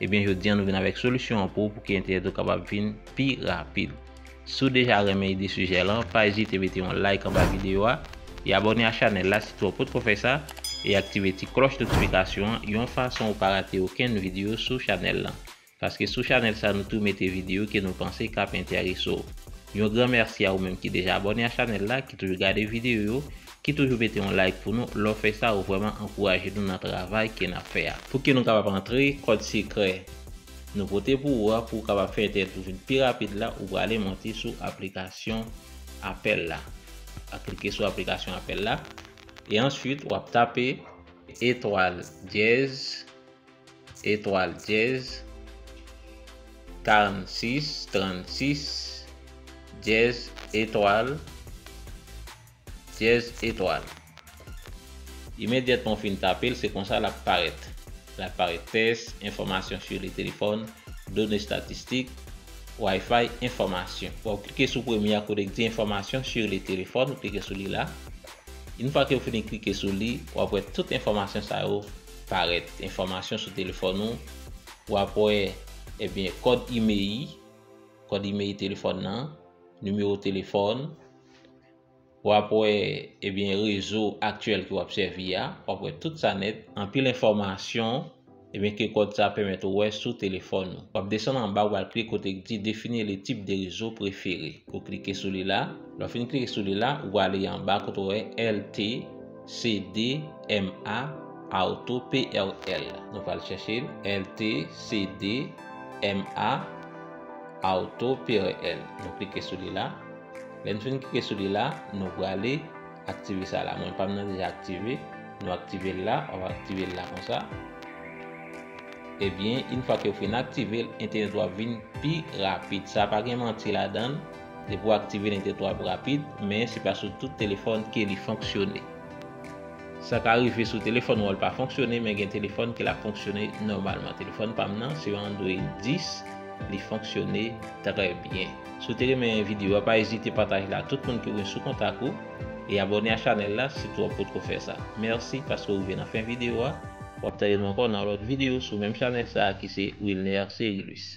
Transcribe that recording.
Ebyen jodi an nou vin avèk solisyon an pou ou pou ke entènèt ou kapab vin pi rapid. Si w deja renmen ide sijè lan, pa ezite mete yon like anba videyo a, e abòne a chanèl la si tou ou potko fè sa, e aktive ti klòch notifikasyon an yon fason ou pa rate okenn videyo sou chanèl lan. Paske sou chanèl sa nou tou mete videyo ke nou panse kap entèrese w. Yon gran mèsi a ou menm ki deja abòne a chanèl la, ki toujou gade videyo yo, Ki toujou mete yon like pou nou, lè w fè sa ou vrèman ankouraje nou nan travay ke nap fè a. Pouki nou kapab antre, kòd sekrè nou pote pou ou a pou ou kapab fè entènèt ou vin pi rapid la ou prale monte sou aplikasyon apèl la. Wap klike sou aplikasyon apèl la e answit wap tape etwal dyèz etwal dyèz 46 36 dyèz etwal. Dyèz etwal. Imedyatman ou fin tape l, se konsa l ap parèt. L ap parèt tès, enfòmasyon su li telefòn, done statistik, Wi-Fi, enfòmasyon. Wap klike sou premye a kote k di enfòmasyon su li telefòn, ou klike sou li la. Yn fwa ke ou fini klike sou li, wap wè tout enfòmasyon sa yo parèt. Enfòmasyon sou telefòn ou, wap wè ebyen kòd imei, kòd imei telefòn nan, nimewo telefòn. Wap wè ebyen rezo aktyèl ke wap sèvi a, wap wè tout sa nèt, anpil enfòmasyon ebyen ke kòd sa pèmèt ou wè sou telefòn ou. Wap desann anba wal klike kote k di define le tip de rezo prefere. Ou klike sou li la, lè w fin klike sou li la, ou prale anba kote w wè LTE, CDMA, Auto, PRL. Nou pral chèche l, LTE, CDMA, Auto, PRL. Nou klike sou li la. Lèn fin klike sou li la nou prale aktive sa la mwen pam nan deja aktive nou aktivel la wap aktivel la konsa ebyen eh in fwa kew fin aktivel entènèt ou ap vin pi rapid sa pa gen manti ladann depi ou aktivel entènèt ou ap rapid men se pa sou tout telefòn ke li fonksyone sa ka rive sou telefòn ou al pa fonksyone men gen telefòn ke lap fonksyone nòmalman telefòn pam nan se yon android 10 li fonksyone trè byen. Si w te renmen video a pa ezite pataj li ak tout moun ki w gen sou kontak ou e abòne a chanèl la si tou w potko fè sa. Mèsi paske w rive nan fen video a. W ap tande nou ankò nan yon lòt video sou menm chanèl sa a ki se Wilner Cerilus.